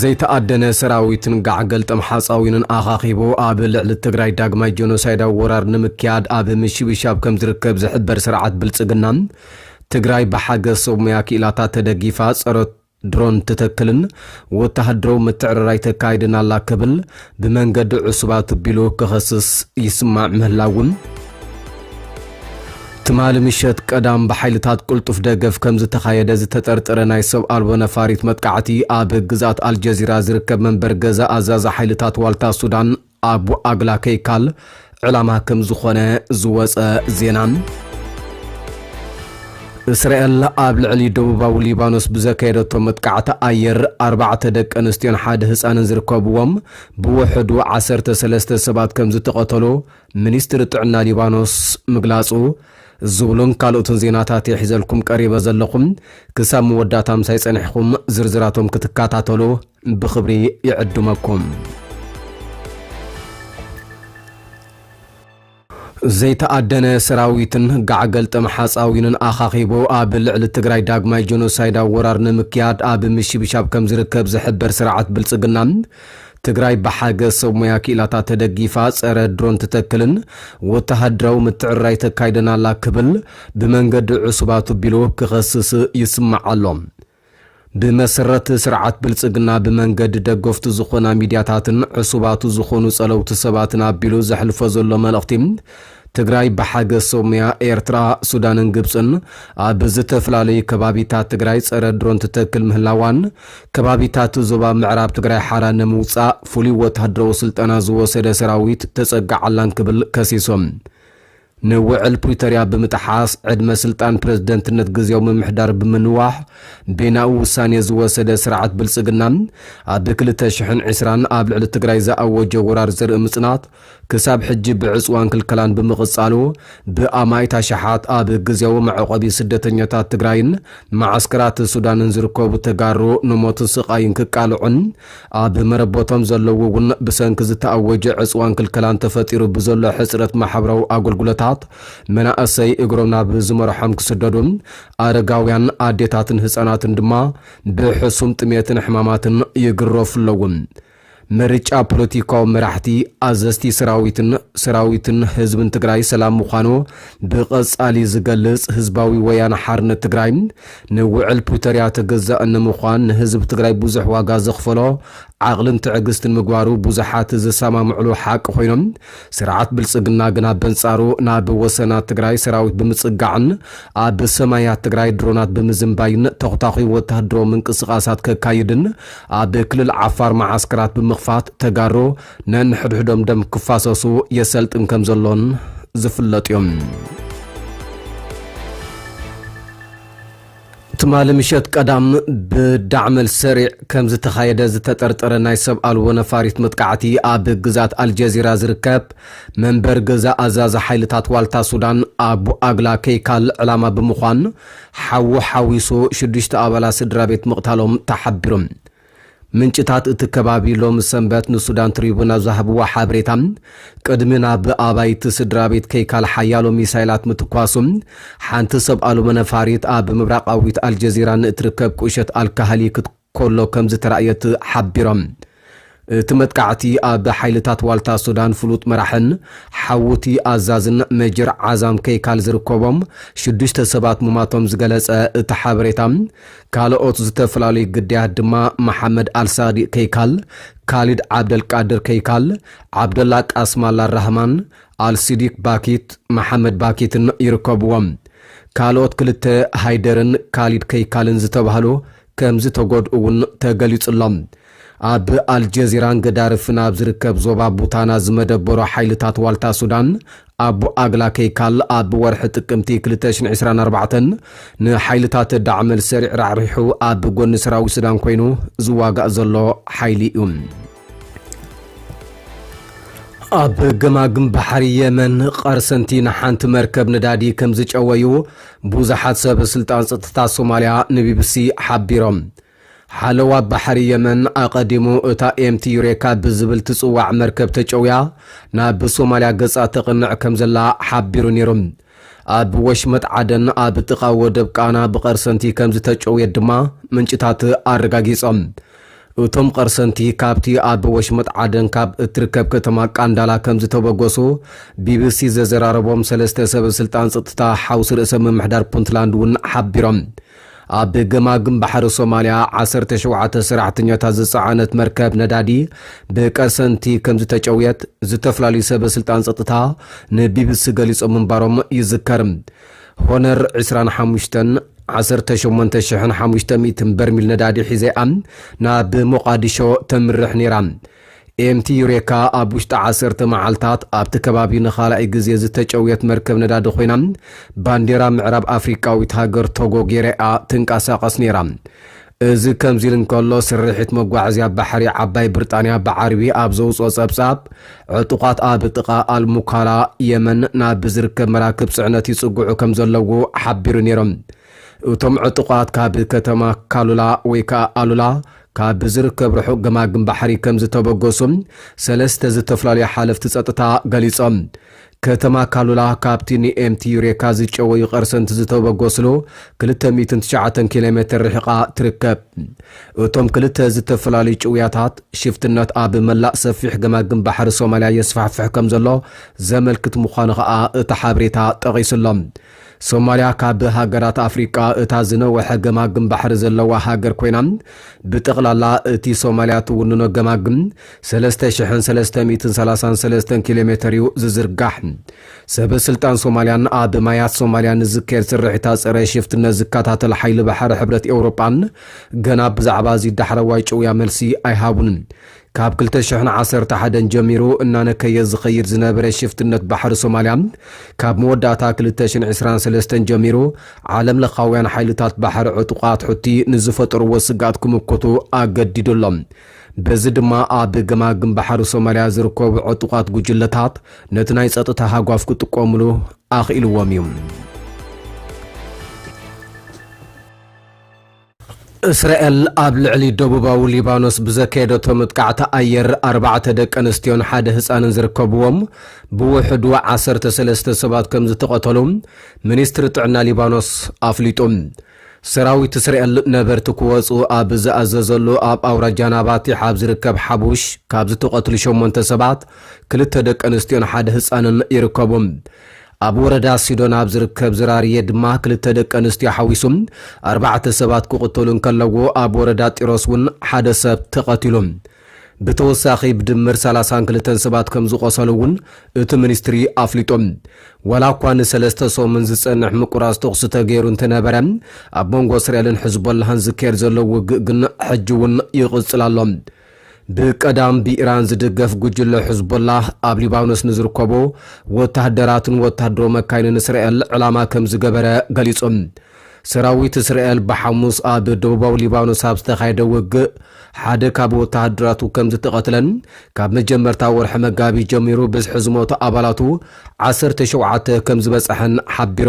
ዘይተኣደነ ሰራዊትን ጋዕ ገልጠም ሓፃዊንን ኣኻኺቡ ኣብ ልዕሊ ትግራይ ዳግማይ ጆኖሳይዳዊ ወራር ንምክያድ ኣብ ምሽብሻብ ከምዝርከብ ዝሕበር ስርዓት ብልፅግና ትግራይ ብሓገዝ ሰብ ሙያ ክኢላታት ተደጊፋ ፀረ ድሮን ትተክልን ወተሃደራዊ ምትዕርራይ ተካይድን ኣላ ክብል ብመንገዲ ዕሱባት ኣቢሉ ክኸስስ ይስማዕ ምህላውን፣ ትማሊ ምሸት ቀዳም ብሓይልታት ቅልጡፍ ደገፍ ከምዝተኻየደ ዝተጠርጠረ ናይ ሰብ ኣልቦ ነፋሪት መጥቃዕቲ ኣብ ግዝኣት ኣልጀዚራ ዝርከብ መንበሪ ገዛ ኣዛዚ ሓይልታት ዋልታ ሱዳን ኣቡ ኣግላ ከይካል ዕላማ ከም ዝኾነ ዝወፀ ዜና እስራኤል ኣብ ልዕሊ ደቡባዊ ሊባኖስ ብዘካየደቶ መጥቃዕቲ ኣየር ኣርባዕተ ደቂ ኣንስትዮን ሓደ ህፃንን ዝርከብዎም ብውሕዱ ዓሰርተ ሰለስተ ሰባት ከም ዝተቐተሉ ሚኒስትሪ ጥዕና ሊባኖስ ምግላጹ ዝብሉን ካልኦትን ዜናታት የሒዘልኩም ቀሪበ ዘለኹም ክሳብ መወዳእታ ምሳይ ጸኒሕኹም ዝርዝራቶም ክትከታተሉ ብኽብሪ ይዕድመኩም። ዘይተኣደነ ሰራዊትን ጋዕ ገልጠም ሓፃዊንን ኣኻኺቡ ኣብ ልዕሊ ትግራይ ዳግማይ ጀኖሳይዳዊ ወራር ንምክያድ ኣብ ምሽብሻብ ከም ዝርከብ ዝሕበር ስርዓት ብልፅግና ትግራይ ብሓገዝ ሰብ ሞያ ክኢላታት ተደጊፋ ፀረ ድሮን ትተክልን ወተሃደራዊ ምትዕርራይ ተካይደን ኣላ ክብል ብመንገዲ ዕሱብ ኣቱቢሉ ክኸስስ ይስማዕ ኣሎ። ብመሰረት ስርዓት ብልፅግና ብመንገዲ ደገፍቱ ዝኾና ሚድያታትን ዕሱባቱ ዝኾኑ ፀለውቲ ሰባትን ኣቢሉ ዘሕልፎ ዘሎ መልእኽቲ ትግራይ ብሓገዝ ሰብ ሙያ ኤርትራ፣ ሱዳንን ግብፅን ኣብ ዝተፈላለዩ ከባቢታት ትግራይ ፀረ ድሮን ትተክል ምህላዋን ከባቢታት ዞባ ምዕራብ ትግራይ ሓራ ንምውፃእ ፍሉይ ወታደራዊ ስልጠና ዝወሰደ ሰራዊት ተፀጋዓላን ክብል ከሲሶም። ንውዕል ፕሪቶርያ ብምጥሓስ ዕድመ ስልጣን ፕረዚደንትነት ግዝያዊ ምምሕዳር ብምንዋሕ በይናኡ ውሳኔ ዝወሰደ ስርዓት ብልጽግና ኣብ ክልተ ሽሕን ዕስራን ኣብ ልዕሊ ትግራይ ዝኣወጆ ወራር ዘርኢ ምጽናት ክሳብ ሕጂ ብዕጽዋን ክልከላን ብምቕጻሉ ብኣማኢት ኣሽሓት ኣብ ግዝያዊ መዕቖቢ ስደተኛታት ትግራይን መዓስከራት ሱዳንን ዝርከቡ ተጋሩ ንሞትን ስቓይን ክቃልዑን ኣብ መረበቶም ዘለዉ እውን ብሰንኪ ዝተኣወጀ ዕፅዋን ክልከላን ተፈጢሩ ብዘሎ ሕፅረት ማሕበራዊ ኣገልግሎታት መናእሰይ እግሮም ናብ ዝመርሖም ክስደዱ፣ ኣረጋውያን፣ ኣዴታትን ህፃናትን ድማ ብሕሱም ጥሜትን ሕማማትን ይግረፉ ኣለዉ። ምርጫ ፖለቲካዊ መራሕቲ፣ ኣዘዝቲ ሰራዊትን ሰራዊትን ህዝብን ትግራይ ሰላም ምዃኑ ብቐፃሊ ዝገልፅ ህዝባዊ ወያነ ሓርነት ትግራይ ንውዕል ፕሪቶርያ ተገዛኢ ንምዃን ንህዝቢ ትግራይ ብዙሕ ዋጋ ዘኽፈሎ ዓቕልን ትዕግስትን ምግባሩ ብዙሓት ዝሰማምዕሉ ሓቂ ኮይኑ ስርዓት ብልፅግና ግና በንፃሩ ናብ ወሰናት ትግራይ ሰራዊት ብምፅጋዕን ኣብ ሰማያት ትግራይ ድሮናት ብምዝንባይን ተኹታኹይ ወታሃደራዊ ምንቅስቓሳት ከካይድን ኣብ ክልል ዓፋር መዓስከራት ብምኽፋት ተጋሩ ነንሕድሕዶም ደም ክፋሰሱ የሰልጥን ከምዘሎን ዝፍለጥ እዩ። ትማሊ ምሸት ቀዳም ብዳዕመል ሰሪዕ ከም ዝተኻየደ ዝተጠርጠረ ናይ ሰብ ኣልቦ ነፋሪት መጥቃዕቲ ኣብ ግዝኣት ኣልጀዚራ ዝርከብ መንበሪ ገዛ ኣዛዚ ሓይልታት ዋልታ ሱዳን ኣቡ ኣግላ ከይካል ዕላማ ብምዃን ሓዊ ሓዊሱ ሽዱሽተ ኣባላት ስድራቤት ምቕታሎም ተሓቢሩ። ምንጭታት እቲ ከባቢ ሎሚ ሰንበት ንሱዳን ትሪቡን ኣብ ዝሃብዎ ሓበሬታ፣ ቅድሚ ናብ ኣባይቲ ስድራቤት ከይካል ሓያሎ ሚሳይላት ምትኳሱ፣ ሓንቲ ሰብ ኣልቦ ነፋሪት ኣብ ምብራቓዊት ኣልጀዚራ ንእትርከብ ቁሸት ኣልካህሊ ክት ከሎ ከምዝተራእየት ሓቢሮም። እቲ መጥቃዕቲ ኣብ ሓይልታት ዋልታ ሱዳን ፍሉጥ መራሕን ሓውቲ ኣዛዝን ሜጀር ዓዛም ከይካል ዝርከቦም ሽዱሽተ ሰባት ምሟቶም ዝገለጸ እቲ ሓበሬታ፣ ካልኦት ዝተፈላለዩ ግዳያት ድማ መሓመድ ኣልሳዲቅ ከይካል፣ ካሊድ ዓብደልቃድር ከይካል፣ ዓብደላ ቃስም ኣላራህማን፣ ኣልሲዲክ ባኪት፣ መሓመድ ባኪትን ይርከብዎም። ካልኦት ክልተ ሃይደርን ካሊድ ከይካልን ዝተባህሉ ከምዝተጎድኡ እውን ተገሊፁ'ሎ። ኣብ ኣልጀዚራን ገዳርፍን ኣብ ዝርከብ ዞባ ቡታና ዝመደበሩ ሓይልታት ዋልታ ሱዳን ኣቡ ኣግላ ከይካል ኣብ ወርሒ ጥቅምቲ ክልተ ሽሕን ዕስራን ኣርባዕተን ንሓይልታት ዳዕመል ሰሪዕ ራሕሪሑ ኣብ ጎኒ ሰራዊት ሱዳን ኮይኑ ዝዋጋእ ዘሎ ሓይሊ እዩ። ኣብ ገማግም ባሕሪ የመን ቐርሰንቲ ንሓንቲ መርከብ ነዳዲ ከም ዝጨወዩ ብዙሓት ሰብ ስልጣን ጸጥታ ሶማልያ ንቢቢሲ ሓቢሮም። ሓለዋ ባሕሪ የመን ኣቐዲሙ እታ ኤምቲ ዩሬካ ብዝብል ትጽዋዕ መርከብ ተጨውያ ናብ ሶማልያ ገጻ ተቕንዕ ከምዘላ ሓቢሩ ነይሩ። ኣብ ወሽመጥ ዓደን ኣብ ጥቓ ወደብ ቃና ብቐርሰንቲ ከምዝተጨውየት ድማ ምንጭታት ኣረጋጊጾም። እቶም ቐርሰንቲ ካብቲ ኣብ ወሽመጥ ዓደን ካብ እትርከብ ከተማ ቃንዳላ ከምዝተበገሱ ቢቢሲ ዘዘራረቦም ሰለስተ ሰበስልጣን ጸጥታ ሓውሲ ርእሰ ምምሕዳር ፑንትላንድ እውን ሓቢሮም። ኣብ ገማግም ባሕሪ ሶማልያ ዓሰርተ ሸውዓተ ሰራሕተኛታት ዝጸዓነት መርከብ ነዳዲ ብቀሰንቲ ከምዝተጨውየት ዝተፈላለዩ ሰበ ስልጣን ጸጥታ ንቢቢሲ ገሊጾም ምንባሮም ይዝከር። ሆነር ዕስራን ሓሙሽተን ዓሰርተ ሸሞንተ ሽሕን ሓሙሽተ ሚእትን በርሚል ነዳዲ ሒዘ'ያ ናብ ሞቓዲሾ ተምርሕ ነይራ። ኤምቲ ዩሬካ ኣብ ውሽጢ ዓሰርተ መዓልታት ኣብቲ ከባቢ ንኻልኣይ ግዜ ዝተጨውየት መርከብ ነዳዲ ኮይና ባንዴራ ምዕራብ ኣፍሪቃዊት ሃገር ቶጎ ጌራ'ያ ትንቀሳቐስ ነይራ። እዚ ከምዚ ኢሉ እንከሎ፣ ስርሒት መጓዓዝያ ባሕሪ ዓባይ ብርጣንያ ብዓርቢ ኣብ ዘውጽኦ ጸብጻብ፣ ዕጡቓት ኣብ ጥቓ ኣል-ሙካላ፣ የመን፣ ናብ ዝርከብ መራክብ ጽዕነት ይጽግዑ ከምዘለዉ ሓቢሩ ነይሩ። እቶም ዕጡቓት ካብ ከተማ ካሉላ ወይ ከኣ ኣሉላ ካብ ዝርከብ ርሑቕ ገማግም ባሕሪ ከምዝተበገሱ ሰለስተ ዝተፈላለዩ ሓለፍቲ ጸጥታ ገሊጾም። ከተማ ካሉላ ካብቲ ንኤምቲ ዩሬካ ዝጨወዩ ቐርሰንቲ ዝተበገስሉ ክልተ ሚእትን ትሽዓተን ኪሎሜተር ርሒቓ ትርከብ። እቶም ክልተ ዝተፈላለዩ ጭውያታት፣ ሽፍትነት ኣብ መላእ ሰፊሕ ገማግም ባሕሪ ሶማልያ የስፋሕፍሕ ከምዘሎ ዘመልክት ምዃኑ ከኣ እቲ ሓበሬታ ጠቒሱ'ሎ። ሶማልያ ካብ ሃገራት ኣፍሪቃ እታ ዝነወሐ ገማግም ባሕሪ ዘለዋ ሃገር ኮይና፣ ብጠቕላላ እቲ ሶማልያ ትውንኖ ገማግም ሰለስተ ሽሕን ሰለስተ ሚእትን ሰላሳን ሰለስተን ኪሎሜተር እዩ ዝዝርጋሕ። ሰበ ስልጣን ሶማልያን ኣብ ማያት ሶማልያ ንዝካየድ ስርሒታት ጸረ ሽፍትነት ዝከታተል ሓይሊ ባሕሪ ሕብረት ኤውሮጳን ገና ብዛዕባ እዚ ዳሕረዋይ ጭውያ መልሲ ኣይሃቡን። ካብ ክልተ ሽሕን ዓሰርተ ሓደን ጀሚሩ እናነከየ ዝኸይድ ዝነበረ ሽፍትነት ባሕሪ ሶማልያ፣ ካብ መወዳእታ ክልተ ሽሕን ዕስራን ሰለስተን ጀሚሩ ዓለምለኻውያን ሓይልታት ባሕሪ ዕጡቓት ሑቲ ንዝፈጠርዎ ስግኣት ክምክቱ ኣገዲዱ ኣሎ። በዚ ድማ ኣብ ገማግም ባሕሪ ሶማልያ ዝርከቡ ዕጡቓት ጉጅለታት ነቲ ናይ ጸጥታ ሃጓፍ ክጥቀሙሉ ኣኽኢልዎም እዩ። እስራኤል ኣብ ልዕሊ ደቡባዊ ሊባኖስ ብዘካየደቶ መጥቃዕቲ ኣየር ኣርባዕተ ደቂ ኣንስትዮን ሓደ ህፃንን ዝርከብዎም ብውሕዱ ዓሰርተ ሰለስተ ሰባት ከም ዝተቐተሉ ሚኒስትሪ ጥዕና ሊባኖስ ኣፍሊጡ። ሰራዊት እስራኤል ነበርቲ ክወፅኡ ኣብ ዝኣዘዘሉ ኣብ ኣውራጃ ናባቲሕ ኣብ ዝርከብ ሓቡሽ ካብ ዝተቐትሉ ሸሞንተ ሰባት ክልተ ደቂ ኣንስትዮን ሓደ ህፃንን ይርከቡም። ኣብ ወረዳ ሲዶን ኣብ ዝርከብ ዝራርየ ድማ ክልተ ደቂ ኣንስትዮ ሓዊሱ ኣርባዕተ ሰባት ክቕተሉ እንከለዎ ኣብ ወረዳ ጢሮስ እውን ሓደ ሰብ ተቐቲሉ። ብተወሳኺ ብድምር ሰላሳን ክልተን ሰባት ከምዝቖሰሉ እውን እቲ ሚኒስትሪ ኣፍሊጡ። ዋላ እኳ ንሰለስተ ሰሙን ዝፀንሕ ምቁራፅ ተኹሲ ተገይሩ እንተነበረ ኣብ መንጎ እስራኤልን ሕዝቦላህን ዝካየድ ዘሎ ውግእ ግን ሕጂ እውን ይቕፅል ኣሎ። ብቀዳም ብኢራን ዝድገፍ ጉጅለ ሕዝቦላህ ኣብ ሊባኖስ ንዝርከቡ ወተሃደራቱን ወተሃደራዊ መካይንን እስራኤል ዕላማ ከም ዝገበረ ገሊጹ። ሰራዊት እስራኤል ብሓሙስ ኣብ ደቡባዊ ሊባኖስ ኣብ ዝተኻየደ ውግእ ሓደ ካብ ወተሃደራቱ ከም ዝተቐትለን ካብ መጀመርታ ወርሒ መጋቢት ጀሚሩ ብዝሒ ዝሞቱ ኣባላቱ ዓሰርተ ሸውዓተ ከም ዝበጸሐን ሓቢሩ።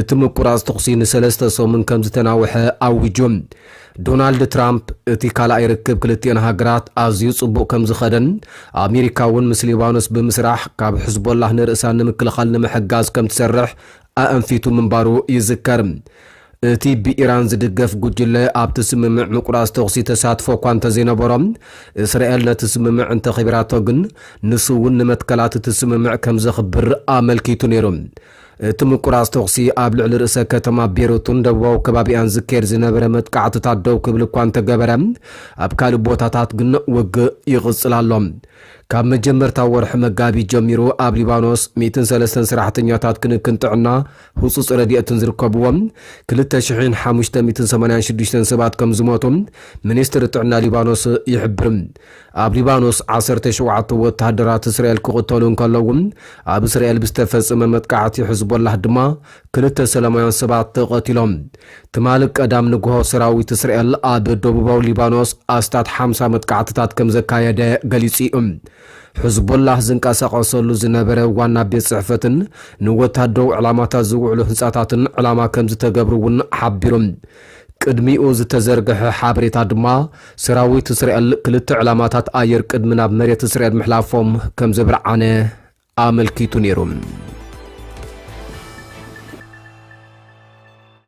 እቲ ምቁራጽ ተኹሲ ንሰለስተ ሰሙን ከም ዝተናውሐ ኣዊጁ። ዶናልድ ትራምፕ፣ እቲ ካልኣይ ርክብ ክልቲኤን ሃገራት ኣዝዩ ጽቡቕ ከም ዝኸደን ኣሜሪካ'ውን ምስ ሊባኖስ ብምስራሕ ካብ ሕዝቦላህ ንርእሳ ንምክልኻል ንምሕጋዝ ከም ትሰርሕ ኣእንፊቱ ምንባሩ ይዝከር። እቲ ብኢራን ዝድገፍ ጉጅለ ኣብቲ ስምምዕ ምቁራጽ ተኹሲ ተሳትፎ'ኳ እንተዘይነበሮ፣ እስራኤል ነቲ ስምምዕ እንተኽቢራቶ ግን ንሱ'ውን ንመትከላት እቲ ስምምዕ ከም ዘኽብር ኣመልኪቱ ነይሩ። እቲ ምቁራጽ ተዅሲ ኣብ ልዕሊ ርእሰ ከተማ ቤሩትን ደቡባዊ ከባቢኣን ዝካየድ ዝነበረ መጥቃዕትታት ደው ክብል እኳ እንተገበረ፣ ኣብ ካልእ ቦታታት ግን ውግእ ይቕጽል ኣሎ። ካብ መጀመርታ ወርሒ መጋቢት ጀሚሩ ኣብ ሊባኖስ ሚእትን ሰለስተን ሰራሕተኛታት ክንክን ጥዕና ህጹጽ ረድኤትን ዝርከብዎም ክልተ ሽሕን ሓሙሽተ ሚእትን ሰማንያን ሽዱሽተን ሰባት ከምዝሞቱ ሚኒስትሪ ጥዕና ሊባኖስ ይሕብር። ኣብ ሊባኖስ ዓሰርተ ሸውዓተ ወተሃደራት እስራኤል ክቕተሉ እንከለዉ፣ ኣብ እስራኤል ብዝተፈጸመ መጥቃዕቲ ሕዝቦላህ ድማ ክልተ ሰላማውያን ሰባት ተቐቲሎም። ትማሊ ቀዳም ንግሆ ሰራዊት እስራኤል ኣብ ደቡባዊ ሊባኖስ ኣስታት ሓምሳ መጥቃዕትታት ከም ዘካየደ ገሊጹ'ዩ። ሕዝቦላህ ዝንቀሳቐሰሉ ዝነበረ ዋና ቤት ጽሕፈትን ንወተሃደራዊ ዕላማታት ዝውዕሉ ህንጻታትን ዕላማ ከም ዝተገብሩ'ውን ሓቢሩ። ቅድሚኡ ዝተዘርግሐ ሓበሬታ ድማ፣ ሰራዊት እስራኤል ክልተ ዕላማታት ኣየር ቅድሚ ናብ መሬት እስራኤል ምሕላፎም ከም ዘብርዓነ ኣመልኪቱ ነይሩ።